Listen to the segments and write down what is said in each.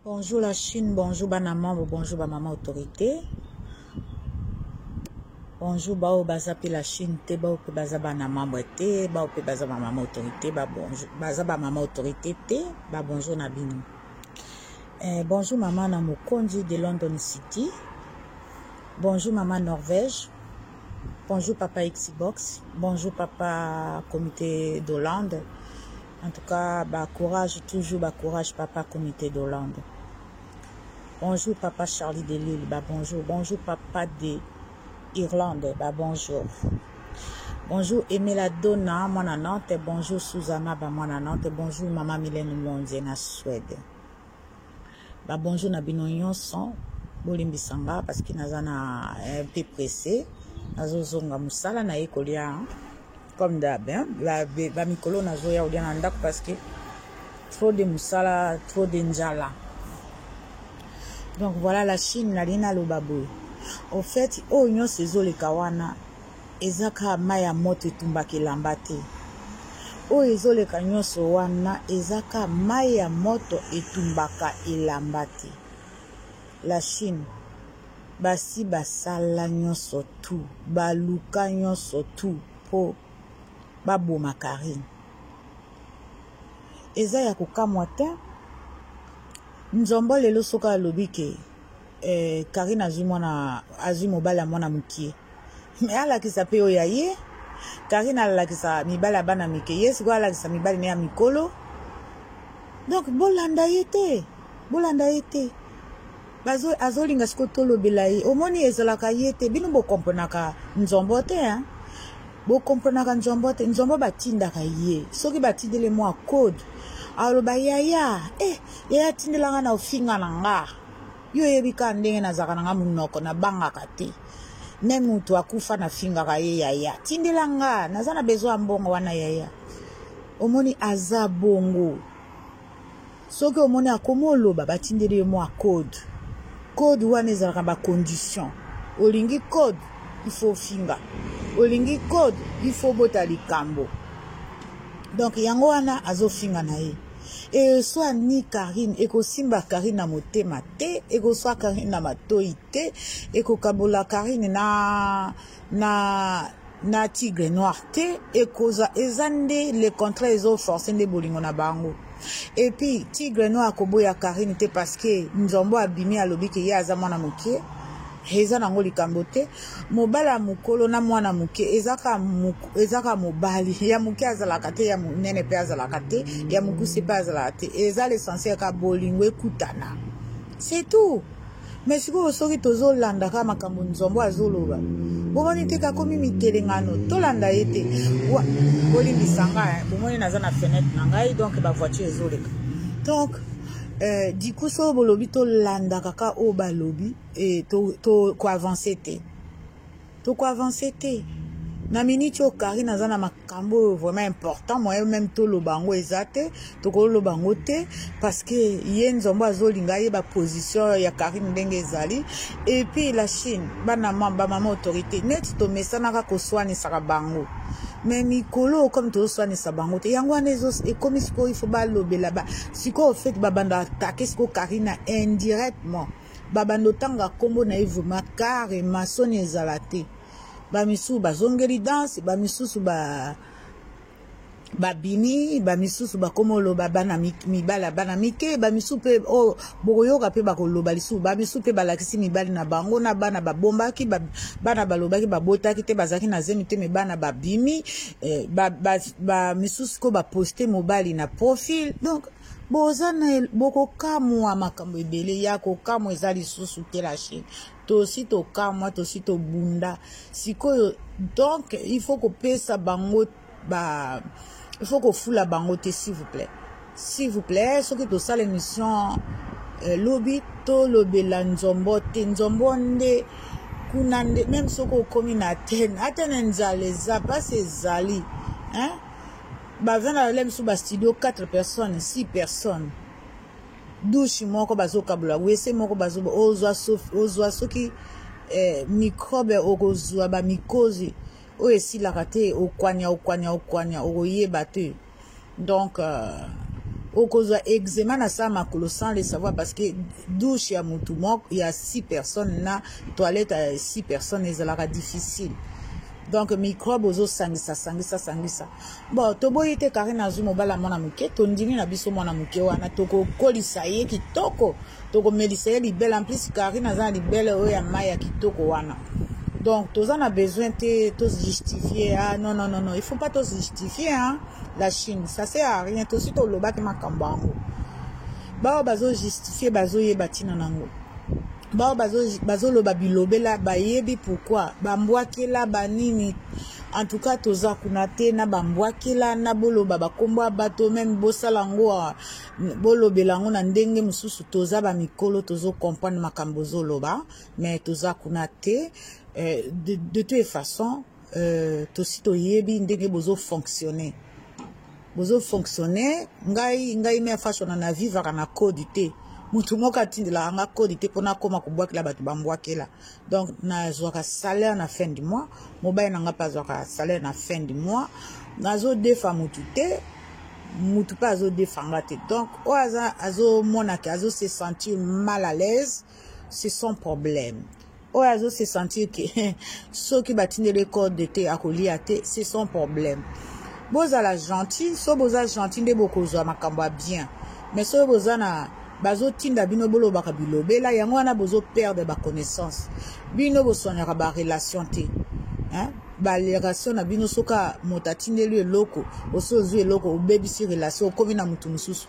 Bonjour la Chine, bonjour bana mambo, bonjour ba mama autorité. Bonjour bao baza pe la Chine te, bao pe baza bana mambo te, bao pe baza ba mama autorité, ba bonjour, baza ba mama autorité te, ba bonjour na bino. Eh, bonjour maman na mokonzi de London City. Bonjour maman Norvège. Bonjour papa Xbox, bonjour papa comité d'Hollande. En tout cas, bah courage toujours, bah courage papa comité d'Hollande. Bonjour papa Charlie Delille, bah bonjour, bonjour papa de Irlande, bah bonjour. Bonjour Emela Donna, moi na Nantes, bonjour Susanna, bah moi na Nantes, bonjour maman Mylène Monze na Suède. Ba bonjour na bino nyonso. Bolimbisa nga parce que naza na eh, un peu pressé. Nazozonga musala na ye kolia hein. comme d'hab hein. Ba, ba mikolo nazoya kolia na ndako parce que trop de musala, trop de njala. Donc voilà la Chine nalingi naloba boye. Au fait oyo nyonso ezoleka wana eza kaka mai ya moto etumbaka elamba te oyo ezoleka nyonso wana eza kaka mai ya moto etumbaka elamba te la chine basi basala nyonso tu baluka nyonso tu mpo baboma karine eza ya kokamwa te nzombo lelo soki alobi ke eh, karine azwi mwana azwi mobali ya mwana mokie me alakisa mpe oyo ya ye karine alakisa mibali ya bana mike ye sikoyo alakisa mibali na ya mikolo donk bolanda ye te bolanda ye te azolinga sikoyo tolobela ye omoni ezalaka ye te bino bokomponaka nzombo te hein? bokomponaka nzombo te nzombo batindaka ye soki batindeli mwa code aloba yaya e eh, yaya tindelanga na ofinga na nga yo oyebi kaka ndenge nazalaka na nga monoko nabangaka te me motu akufa nafingaka ye yaya tindela nga naza na besoin ya mbongo wana yaya omoni aza bongo soki omoni akomi oloba batindeli yo mwa code code wana ezalaka na bacondition olingi code ifo ofinga olingi code ifo obota likambo donk yango wana azofinga na ye eswa ni karine ekosimba karine na motema te ekoswa karine na matoi te ekokabola karine na na na tigre noir te ekoza eza nde le contrat ezoforce nde bolingo na bango epuis tigre noir akoboya karine te parce que nzombo abimi alobi ke ye aza mwana mokie Eza nango likambo te mobali ya mokolo na mwana moke ezaka ezaka mobali ya moke azalaka te ya monene mpe azalaka te ya mokuse mpe azalaka te eza l'essentiel ka bolingo ekutana c'est tout mais sikoyo soki tozolanda kaka makambo nzombo azoloba bomoni te kakomi mitelengano tolanda ye te bolimbisa ngai eh. bomoni naza na fenêtre na ngai donc bavoiture ezoleka donc eh, du coup soki bolobi tolandaka ka oyo balobi e, to, to ko avancer te to ko avancer te na miniti oyo karine aza na makambo oyo vraiment important moyen meme toloba yango eza te tokoloba yango te parce que ye nzombo azolinga ye baposition ya karine ndenge ezali epuis la chine bana bamama autorité neti tomesanaka koswanisaka bango me mikolo comme tozoswanisa bango te yango wana ekomi sikoyo ifo balobela ba sikoyo fete babanda atake sikoyo karine indirectement babanda otanga nkombo na ye vrema kare masoni ezala te bamisusu bazongeli danse bamisusu ba babimi bamisusu bakoma oloba bana mibala bana mike bamisusu mpe oyo oh, bokoyoka mpe bakoloba lisusu bamisusu mpe balakisi mibali na bango na bana babombaki bana balobaki babotaki te bazalaki na zemi te me bana babimi eh, bamisusu ba, ba, ko baposte mobali na profil donc boza na bokokamwa makambo ebele ya kokamwa eza lisusu te la chine tosi tokamwa tosi tobunda sikoyo donc il faut kopesa bango ba il faut kofula bango te s'il vous plaît s'il vous plaît soki tosala émission euh, lobi tolobela nzombo te nzombo nde kuna nde meme soki okomi na atene atene nzala eza mpasi ezali hein? Baza na lolenge mosusu ba studio 4 personnes, 6 personnes. Douche moko bazokabola, wese moko bazoba, ozwa sofi, ozwa soki eh, microbe okozwa ba mikozi oyo esilaka te, okwanya okwanya okwanya, okoyeba te. Donc euh, okozwa eczema na saa makolo sans le savoir parce que douche ya mutu moko ya 6 personnes na toilette ya 6 personnes ezalaka difficile. Donc microbe ozosangisa sangisa sangisa. Bon, toboyi te Karine azwi mobali ya mwana moke, tondimi na biso mwana moke wana, tokokolisa ye kitoko, tokomelisa ye libele. En plus Karine aza na libele oyo ya mai ya kitoko wana. Donc toza na besoin te to se justifier. Ah non non non non, il faut pas to se justifier hein. La Chine, ça sert à rien. Tosi tolobaki makambo yango. Baoyo bazo justifier bazoyeba ntina nango. bao bazoloba bazo bilobela bayebi pourkui bambwakela banini en tout cas toza kuna te na bambwakela na boloba bakombo ya bato meme bosala yango ah, bolobela yango na ndenge mosusu toza bamikolo tozokomprendre makambo ozoloba mais toza kuna te eh, de, de toute façon euh, tosi toyebi ndenge bozo fonctionner bozo fonctionner ngai ngai mea fashion na vivaka na code te motu moko atindelaka nga code te mpona akoma kobwakela bato bambwakela donc nazwaka salaire na fin du mois mobali na nga mpe azwaka salaire na fin du mois nazodefa motu te motu mpe azodefa nga te donc oyo aza azomonake azo se sentir mal à l'aise c'est son problème oyo azo se sentir ke soki batindeli ye code te akolia te c'est son problème bozala gentil so boza gentil nde bokozwa makambo ya bien mais soki boza na bazotinda bino bolobaka bilobela yango wana bozo perdre baconnaissance bino boswanyaka barelation te hein? barelation na bino soki moto atindeli eloko osi ozwi eloko obebisi relation okomi na moto mosusu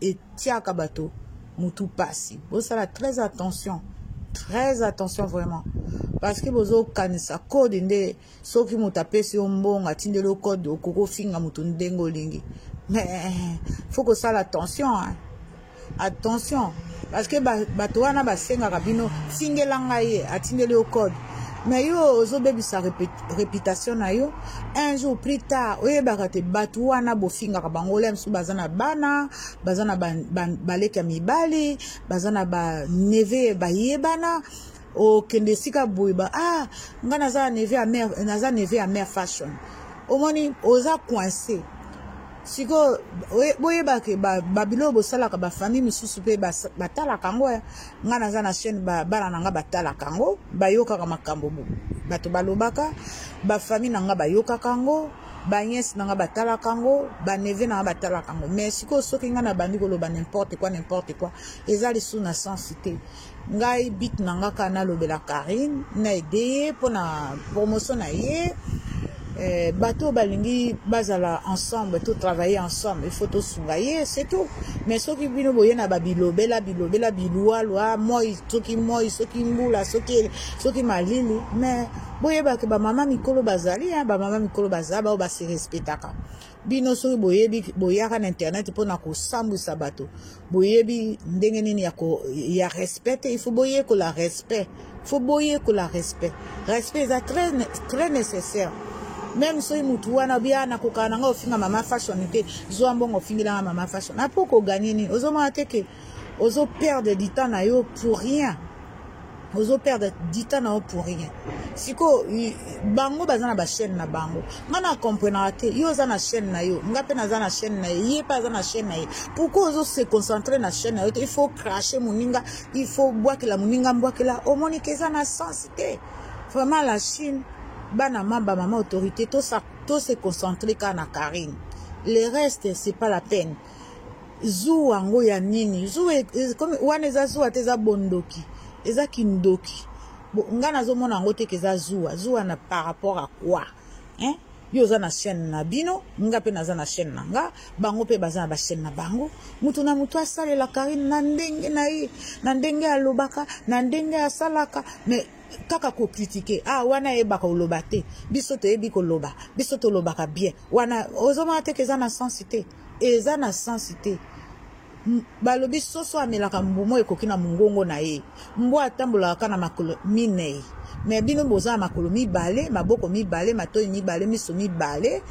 etiaka bato mutu pasi bosala très attention très attention vraiment parce que bozokanisa code nde soki moto apesi yo mbongo atindeli yo code okoki ofinga moto ndenge olingi mais faut kosala attention hein? attention parce que bato wana basengaka bino tingela ngai ye atindeli yo code mais yo ozobebisa reputation na yo un jour plus tard oyebaka te bato wana bofingaka bango la mosusu baza na bana baza na baleki ya mibali baza na baneve bayebana okende esika boye ba ah ngai naza neve ya mare naza neve ya mare fashion omoni oza coince sikoyo boyebake babilo bosalaka bafamille mosusu mpe batalaka yango nga naza na chaîne ba bana na nga batalaka yango bayokaka makambo bato balobaka bafamille na nga bayokaka yango baniese na nga batalaka yango baneve na nga batalaka yango mais sikoyo soki ngai nabandi koloba nimporte quoi nimporte quoi eza lisusu na sense te ngai bit na nga kaka nalobela karine na ede ye mpo na promotion na ye Eh, bato oyo balingi bazala ensemble to travailler ensemble il faut tosunga ye c'est tout mais soki bino boye na babilobela bilobela bilualua moi soki moi soki mbula soki soki malili mais boyebake bamama mikolo bazali bamama mikolo baza baoyo basirespetaka bino soki boyebi boyaka na internet mpo na kosambwisa bato boyebi ndenge nini ya, ko, ya respect te ifo boyekola respect fo boyekola respect respect eza très, très nécessaire meme soki motu wana bia ah, nakokana na ngai ofinga mama fashion te zwa mbongo ofingelanga mama fashion apo koganie nini ozomona te ke ozo perdre du temps na yo pour rien ozo perdre du temps na yo pour rien sikoyo bango baza na bachaîne na bango ngai na comprenaka te yo oza na chaîne na yo ngai mpe naza na chaîne na ye ye mpe aza na chaîne na ye pourkui ozo se concentre na chaîne na yo te il faut crache moninga il faut bwakela moninga mbwakela omoni ke eza na sens te vraiment la chine bana mamba mama autorité to se concentre kaka na carine le reste c'est pas la peine zuwa yango ya nini zuwa e, e, wana eza zuwa te eza bondoki eza kindoki ngai nazomona yango te ke eza zuwa zuwa na par rapport a quoi hein? yo oza na chaîne na bino nga mpe naza na chaîne na nga bango mpe baza na bachaîne na bango moto na moto asalela karine na ndenge na ye na ndenge alobaka na ndenge asalaka mais kaka kokritike ah wana ayebaka koloba te biso toyebi koloba biso tolobaka bien wana ozomona te ke eza na sensi te Eza na sens te. Balobi soso amelaka mbuma oyo ekoki na mongongo na ye. Mbwa atambolaka kaka na makolo minei. Mais bino boza na makolo mibale, maboko mibale, matoyi mibale, miso mibale.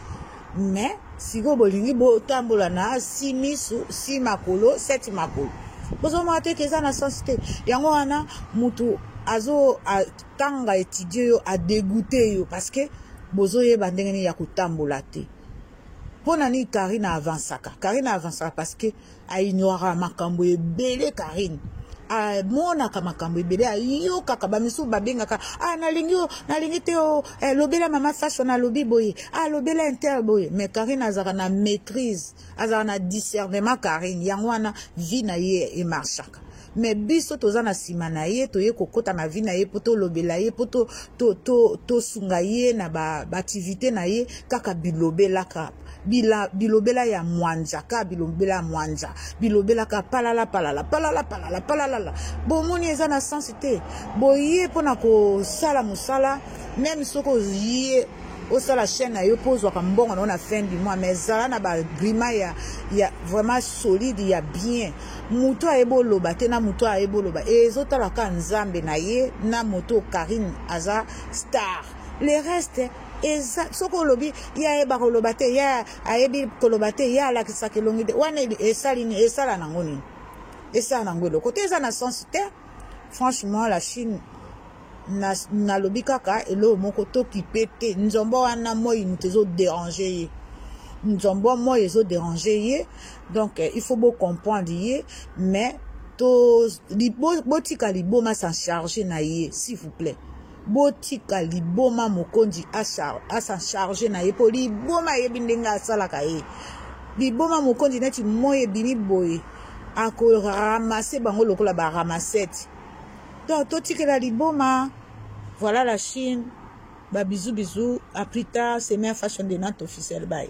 Mais sikoyo bolingi botambola na si miso, si makolo, seti makolo. Bozomona te ke eza na sens te. Yango wana mutu azo atanga etidie yo adegoute yo parce que bozoyeba ndenge nini ya kotambola te. pona nini Karine avansaka Karine avansaka parce que aignoraka makambo ebele Karine amonaka makambo ebele ayokaka bamisusu babengaka ah nalingi yo nalingi te o oh, eh, lobela mama fashion alobi boye ah lobela inter boye mais karine azalaka na maîtrise azalaka na discernement karine yango wana vie na ye emarcha me biso toza na nsima na ye toye kokɔta na vi na ye mpo tolobela ye mpo tosunga to, to ye na baaktivité ba na ye kaka bilobela kaka bila, bilobela ya mwanza kaka bilobela ya mwanza bilobela kaka palala palala palala palala palalala bomoni eza na sense te boye mpo na kosala mosala meme soki oye osala chaîne na yo mpo ozwaka mbongo na yo na fin du mois mais zala na bagrima ya, ya vraiment solide ya bien moto ayebi oloba te na moto ayebi oloba ezotala kaka nzambe na ye na moto karine aza star le reste eza soki olobi ye ayeba koloba te ye ayebi koloba te ye alakisaka elongi te wana esali nini esala nango nini esala nango eloko te eza na sense te franchement la chine na nalobi kaka eloko moko tokipe te nzombo wana moi moto ezo déranger ye nzombo moi ezo déranger ye donc eh, il faut bo comprendre ye mais to libo botika liboma s'en charger na ye s'il vous plaît botika liboma mokonzi asa charge na ye mpo liboma ayebi ndenge asalaka ye liboma mokonzi neti moi ebimi boye akoramase bango lokola baramasete donc totikela liboma voilà la chine ba bisous bisous à plus tard c'est mère fashion de nante officiel bye